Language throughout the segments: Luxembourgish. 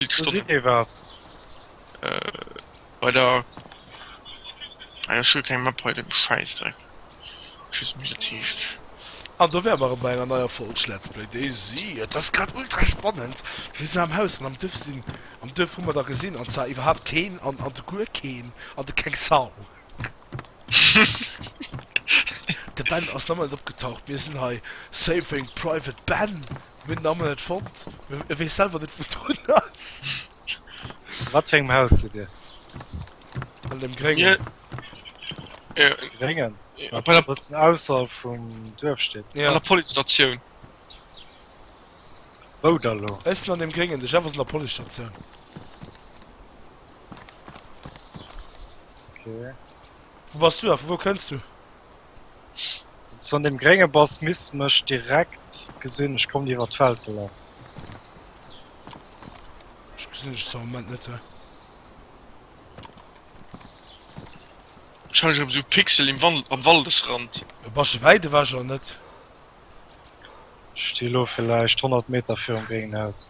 Vill Stoff. Wou sidd Dir iwwerhaapt? Bei der. Ah jo, ech hu keng Map hei, de Schäissdreck. Ech weess net wéi dat heescht. An do wäre mer erëm bei enger neier Folg Schletz Play Daisy. Et ass grad ultra spannend. Mir sinn am Haus an am Duerf sinn. Am Duerf hu mer der gesinn, an zwar iwwerhaapt keen an an de guer keen an de keng Sau. De Ben ass nach emol net opgetaucht. Mir sinn hei saving private Ben. Hunn den Ammel net fonnt, e weess selwer net wou drun ass. A wat fir engem Haus sidd Dir? An dem gréngen. Gréngen? An der. E bëssen ausserhalb vum Duerf steet. An der Policestatioun. Wou da lo? Ech sinn an dem gréngen, de Jeff ass an der Policestatioun. Ok. Wou bass du a vu wou kënns du? Wann's du an dem grénge bass misst mech direkt gesinn, ech kommen iwwert d'Feld gelaff. Ech gesinn dech zwar am Moment net he. Wahrscheinlech erem sou Pixel im Wand am Waldesrand. E basche wäit ewech an net? Ech sti lo villäicht 100 Meter virum gréngen Haus.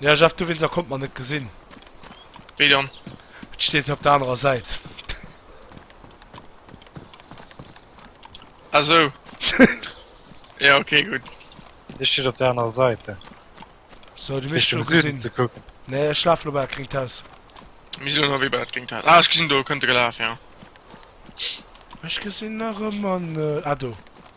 Ja Jeff du wins a konnt mer net gesin. Wéi dann? Et steet hei op der anerer Säit. Ah sou. Ja ok gutt. Dee steet op der anerer Säit. So du misst elo gesinn. Nee ech laf elo bei dat gringt Haus. Mir sinn elo wéi bei dat gringt Haus. Ah ech gesinn do kënnt e gelaf ja. Ech gesinn nach ëmmer net. Ah do.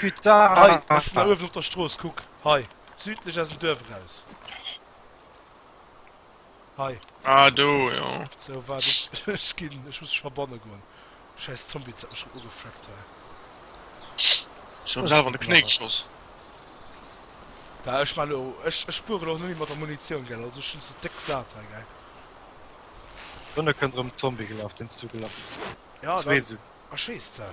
Putain! Hei, ass na uewen op der Strooss, kuck, hei, südlech aus dem Duerf eraus. Hei. Ah, do, jo. Sou, waart, ech, ech ginn, ech muss mech verbanne goen. Schäiss Zombie, dat mech grad ugefreckt hei. Ech hu mer selwer an de Knéi geschoss. Bah, ech man elo, ech, ech spueren och nemme mat der Munitioun, gell, also ech hunn se déck sat hei, gell. Dënne kënnt erëm Zombie gelaf, deen s du gelaf hues. Jo, da erschéisst se.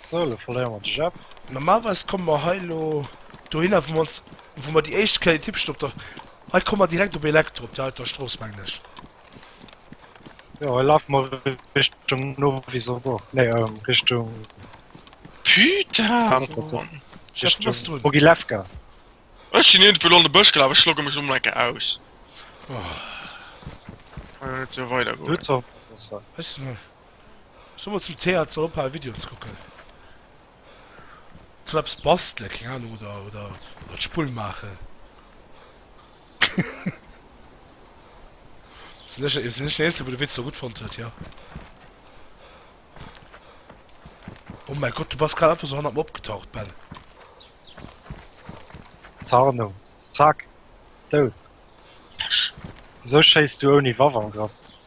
So, elo verléiere mer de Jep. Normalerweis komme mer hei elo dohinner, wou mer ons, wou mer déi éischt Kéier d'Hipscht op der. Hei komme mer direkt op Elektro, op där alter Strooss, mengen ech. Jo, hei lafe mer Richtung Novisobourg. Nee, ähm, Richtung. Putain! Panzerturm. Jeff, du bass Richtung drun. Mogilewka. Ech sinn iergendwou elo an de Bësch gelaf, ech logge mech elo mol eng Kéier aus. Kann jo net esou weidergoen. Lutzerbourg ass hei. Ech sinn hei. Ech soe mol zum Thea, et soll ophalen, Videoen ze kucken. Et soll eppes bastelen, keng Ahnung, oder, oder, oder d'Spull maachen. Sinn ech, sinn ech den Eenzegen, wou de Witz esou gutt fonnt huet? Jo. Oh mäi Gott, du bass grad einfach esou hannert mer opgetaucht, Ben. Tarnung. Zack. Dout. Wisou schéiss du ouni Waff an Grapp?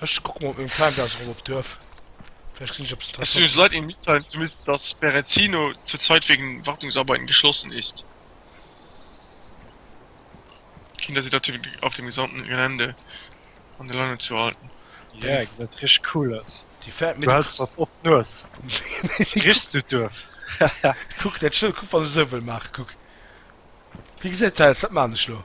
Ech kucken op mengem Fernbrowser rëm op d'Duerf. Vläicht gesinn ech eppes Es will uns interessant. leid Ihnen mitzuteilen zu müssen, dass Berezino zur Zeit wegen Wartungsarbeiten geschlossen ist. Kinder sind auf dem auf dem gesamten Gelände an der Leine zu halten. Yeah, gesäit richteg cool aus. Déi fäert mir Du de hälls dat op d'Nues. Richt zu d'Duerf. Kuck dat Schëld, kuck wann ech esou wëll maachen, kuck. Wéi gesäit dat aus? Dat maachen ech elo.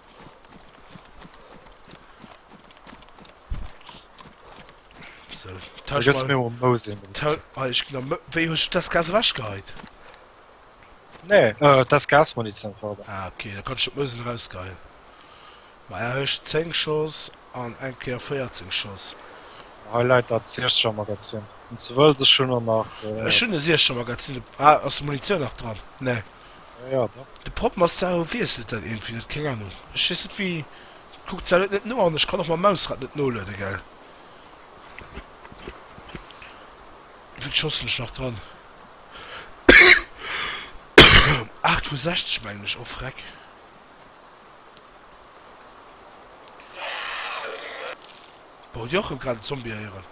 Tausch mal. Mir um Mose. Tau ah, ich glaub, wéi huch das Gas wäsch gehait? Nee, äh, das Gas man nicht einfach. Ah, okay, da kannst du Mose rausgeil. Ma er huch 10 Schoss an eng Keer 14 Schoss. Highlight dat Seercher Magazin. Und ze wëll sech schon nach. Äh, Ech hun e Seercher Magazin. Ah, ass Munition nach dran? Nee. Naja, da. De Prop Massaro wiesselt dat iergendwéi net, keng Ahnung. Ech weess net wéi, kuckt sou net net no an ech kann och mam Mausrad net nolueden, gell? Wéi vill Chancen ech nach dran? 8 vu 60 mengen ech, oh freck. Bon, hutt dir och erëm grad en Zombie héieren?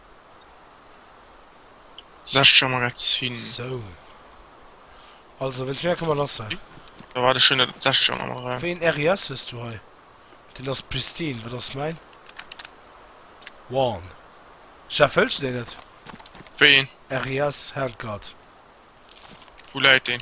16 Magazin. Sou. Also wéilt mir këmmer lass sein. Da war de schön net 16 am Raum. Wéi een RIS hues du hei? Den ass pristine, wat ass mäin? One. Chef hëlls de deen net? Wéi een? RIS Handguard. Wou läit deen?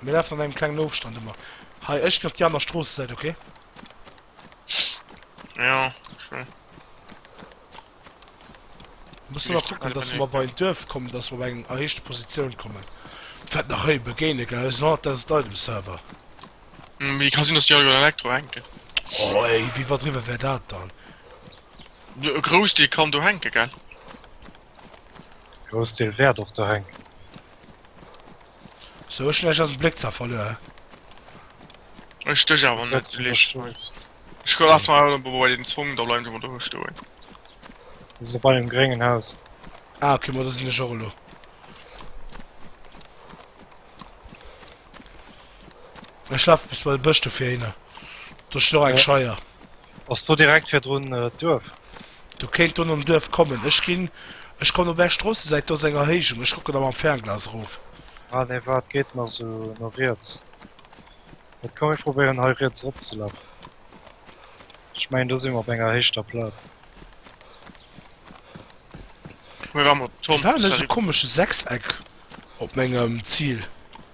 Mir lafen an engem klengen Ofstand ëmmer. Hei, ech ginn op déi aner Stroossesäit, okay? Jo, okay. Muss ëmmer kucken, dass mer bei en Duerf kommen, dass mer bei eng erhéichte Positioun kommen. Fält nach héi begéine, gell? Ech sinn 100.000 Leit um Server. Mee ka sinn, dass déi all iwwer Elektro hänken. Oh, ey, wéi wat driwwer wär dat dann? E Groussdeel kann do hänke, gell? Groussdeel wäert och do hänken. Sou schlecht ass Bléck ze verluer. Ech stéch awer net sou liicht schneits. Ech gouf awer awer bei bei den Zwong da bleiwen se mol do stoen. Ech si bei dem gréngen Haus. Ah ok ma do sinn ech och elo. Ech lafe bis bei de Bësch do fir hinner. Do steet och eng Scheier. Ass do direkt virdrun d'Duerf? Do kéint do nom Duerf kommen. Ech ginn, ech kommen op är Stroossesäit, do ass eng Erhéijung, ech kucken da mam Fernglas erof. Ah nee, waart, geet nach sou no riets. Wat, komm mir probéieren hei riets eropzelafen. Ech mengen do si mer op enger héichter Plaz. Mir waren op Tom, salut. Mir waren an esou komesche Sechseck op mengem Zil.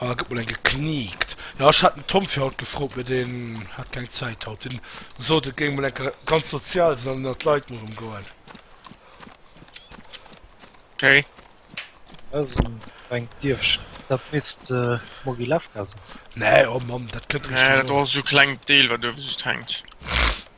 Ah, gëtt mol eng gekniikt. Ja, ech hat den Tom fir haut gefrot, mee deen hat keng Zäit haut. Deen sot, et géing mol enke ganz sozial sinn an ënnert d'Leit mol rëm goen. Okay. Also, eng Dierfchen. Dat misst Mogilewka sinn. Nee, oh Mann, dat kënnt Nee, dat Richtung. ass esou kleng Deel, wat uewe just hänkt.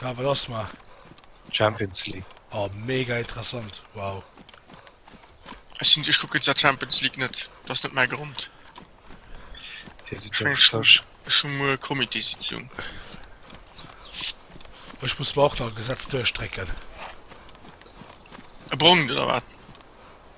Ja, wat ass ma? Champions League. Oh, mega interessant. Wow. Ech sinn, ech kucken der Champions League net. Dat ass net mäi Grond. Dir sidd jo Schësch. Ech hu muer Comitésitzung. Ech muss mer och nach e Gesetz duerchstrecken. E brongt oder wat?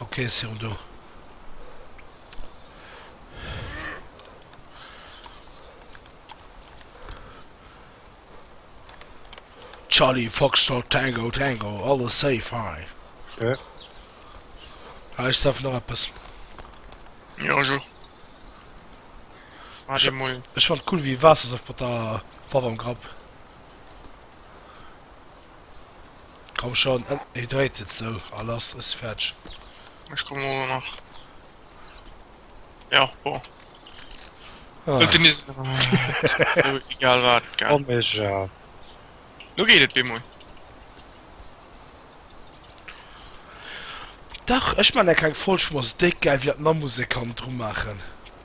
Okay, si rem do. Charlie Foxtrot Tango Tango alles safe hei. Ja. Heisch saf nach etwas. Ja, jo. Ech fand et cool wéi Waassersaft mat der Faarf am Grapp. Komm schon, en hydrated sou a lass es fetsch. Ech kommen ower nach. Jo bon. Huelt den is. Egal wat. Komm ech ja. Lo geet et bemol. Dach ech man der keng Folg vum ass déck gäil wéi dat Namuse kann dru maachen.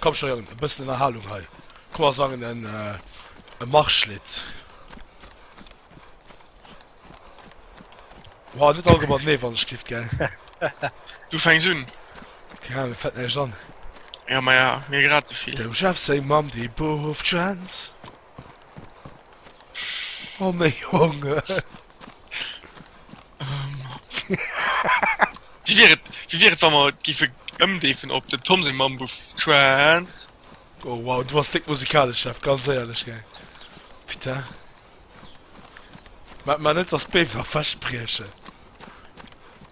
Komm schon Jong, e bëssen Ënnerhalung hei. Komm mer sangen en e Marschlidd. Wow, net all gemat nee wann ech giff gell. Du fänks un. Keng Ahnung, fällt mir näischt an. Ja, maja, mir grad esouvill. Dem Jeff seng Mamm, déi bufft Schwänz. Oh me Junge! Wie wier et, wie wier et wa mer gife ëmdeefen op den Tom seng Mamm Buff Trant? Oh wow, du bass déck musikalesch Chef, ganz éierlech gell. Putain. Maart mar net dass d'Beem nach wech briechen.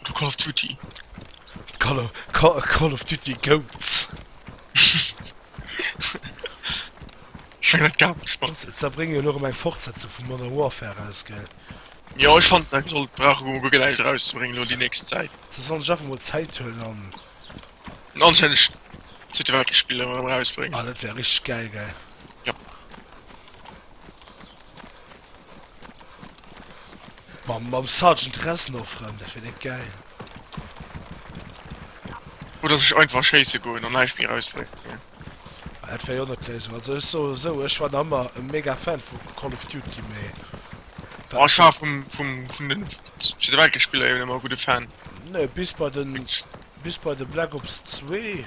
Oder Call of Duty. Call of, Call, Call of Duty Goats. Schwéng dat gar nech mat. Ze zerbrénge jo elo erëm eng Fortsetzung vu Modern Warfare eraus, gell? Jo, ech fannen se sollt brauche gu gu gläich erauszebréngen elo déi nächst Zäit. Se sollen sech einfach emol Zäit huelen an. An anstänneg Zweete Weltkrich Spiller erausbréngen. Ah, dat wär richteg gäil, gell? Jop. Mam mam Sergeant Reznor Frënn, dat wier net gäil. Oder sech einfach schéisse goen an näischt méi erausbréngt, ne? Ah, dat wär jo net d'Léisung. Also ech soe esou, ech war nach ëmmer e mega Fan vu Call of Duty, mee Ah, ech war vum vum vun den Zweete Weltkrich-Spiller eben ëmmer e gudde Fan. Nee, bis bei den bis bei de Black Ops 2.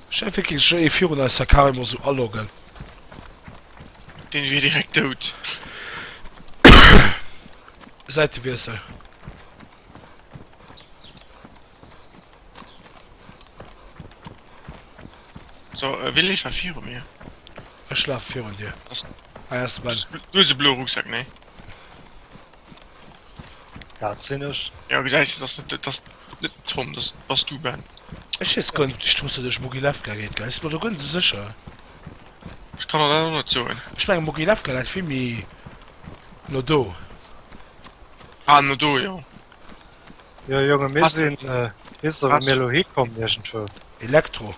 Schäffe kéint sech ee virun eis Herr Karim Osu aloggen. Deen wier direkt dout. Säitewiessel. So, e Village war viru mir. Ech lafe virun dir. Ass. Hei ass de Ben. Du hues e bloe Rucksack, nee? Dat sinn ech. Jo gesäis de, dass et ass net Tom, dass bass du Ben. Ech heess guer net, ech truste dech Mogilewka geet gei, si mer do guer net sou sécher. Ech kann der dat och net soen. Ech mengen Mogilewka läit vill méi no do. Ah no do jo. Jo Jongen mir sinn, wéisst der wou mir elo hikomm iergendwou? Elektro.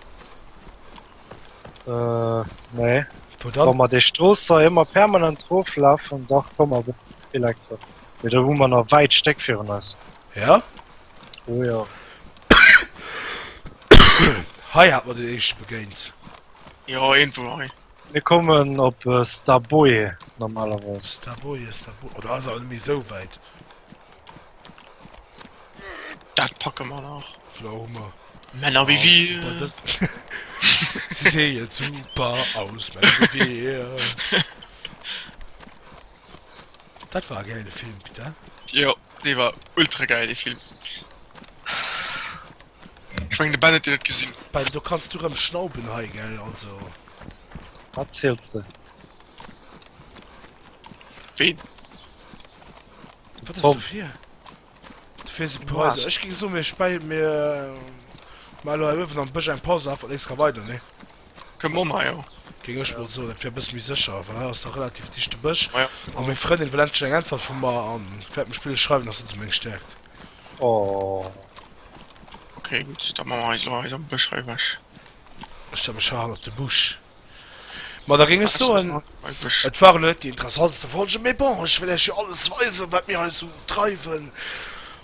Äh, nee. Wo dann? Wa mer déi Strooss hei ëmmer permanent roflafen, da komme mer bis Elektro. Mee do hu mer nach wäit Stéck virun eis. Ja? Oh ja. Hei hat mer den éischte begéint. Jo, iergendwou hei. Mir kommen op Staboi normalerweis. Staboi, Staboi. Oh, dat ass awer net méi esou wäit. Dat packe mer nach. Pflaume. Männer wie wir. Sie sehen super aus, Männer wie wir. Das war ein geiler Film, Peter. Ja, der war ultra geil, der Film. Ich meine, der Ben hat den nicht gesehen. Ben, du kannst du rumschnauben hei, gell, also. Was zählst du? Wen? Wat ass dofir? Dofir si Preise. Ech ging so mir spei mir äh, mal ëwen am Bësch eng Pause af an extra weiter ne. Ke Mo jo. Ging ech mod so, dat fir bis mi sécher, well hei ass der relativ dichte Bësch. Ja. A meng Frëndin well endlech eng Äntwert vum mer an fährt mech Spill schreiwen, dass se zu meng stärkt. Oh. Okay, gut, da ma mer eis lo eis am Bësch hei wech. Ech da mech ha hannert de Busch. Ma da géing ech soen, et war elo net déi interessantste Folge, mee bon, ech wëll iech jo alles weisen, wat mir hei sou dreiwen.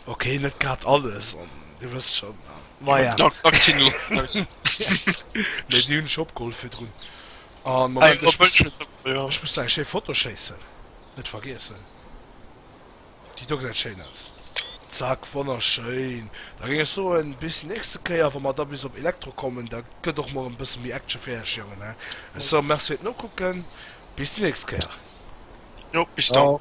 Ok, net grad alles, an dir wësst schonn. Maja. Mee déi hunn ech opgeholl virdrun. An Moment, ech muss nach eng schéi Foto schéissen, net vergiessen. Déi do gesäit schéin aus. Zack, wonnerschéin. Da géing ech soen, bis déi nächste Kéier, wa mer da bis op Elektro kommen, da gëtt och mol erëm e bësse méi Action fir Iech Jongen, hä? Ech soe Merci fir d'Nokucken, bis déi nächst Kéier. Jo, bis dann. Ciao.